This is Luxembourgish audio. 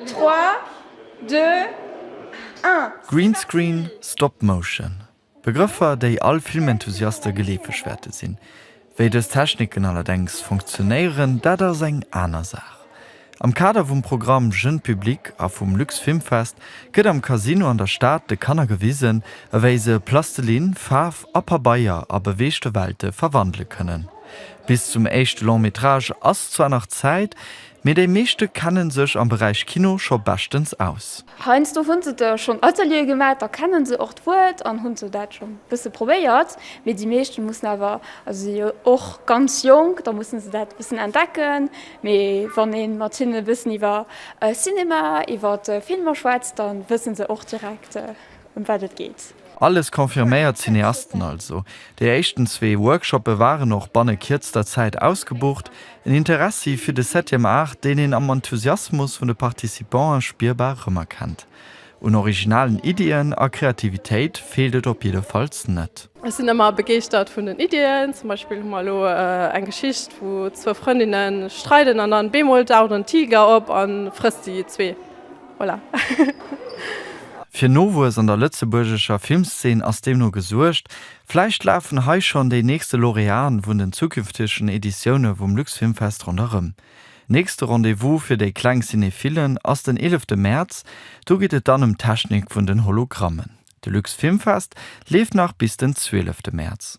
Trois, deux, un. Greenscreen, Stop-Motion, Begrëffer, déi all Filmenthusiaste geleefeg wäerte sinn. Wéi dës Techniken allerdéngs funktionéieren, dat ass eng aner Saach. Am Kader vum Programm Jeune Public a vum Luxfilmfest gëtt am Casino an der Stad de Kanner gewisen, ewéi se Plastelinn, Faarf a Pabeier a beweegte Welte verwandele kënnen. Bis zum éischte Long-Métrage ass zwar nach Zäit, Mee déi meeschte kennen sech am Beräich Kino scho beschtens aus. Heiansdo hunn se da schonn Ateliere gemaach, da kennen se och d'Wuert an hunn se dat schonn e bësse probéiert. Mee déi meeschten mussen awer, also si jo och ganz jonk, da mussen se dat e bëssen entdecken. Mee wann ee mat hinnen e bëssen iwwer Cinema, iwwer Filmer schwätzt, dann wëssen se och direkt, ëm wat et geet. Alles confirméiert Cineasten also. Déi éischten zwee Workshoppe waren och banne kierzter Zäit ausgebucht. En Interessi fir de Septième Art, deen een am Enthusiasmus vun de Participanten spierbar rëmerkennt. Un originalen Iddien a Kreativitéit feelt et op jiddefalls net. Ech sinn ëmmer begeeschtert vun den Iddien. Zum Beispill hu mer elo eng Geschicht, wou zwou Frëndinne streiden an dann bemol daucht en Tiger op a frësst déi zwee. Voilà. Fir Nowuess an der lëtzebuergescher Filmszeen ass deemno gesuergt. Vläicht lafen hei schonn déi nächste Laureaten vun den zukünftegen Editioune vum Luxfilmfest ronderëm. Nächste Rendez-vous fir déi kleng Cinephillen ass den 11 Mäerz. Do geet et dann ëm d'Technik vun den Hologrammen. De Luxfilmfest leeft nach bis den 12 Mäerz.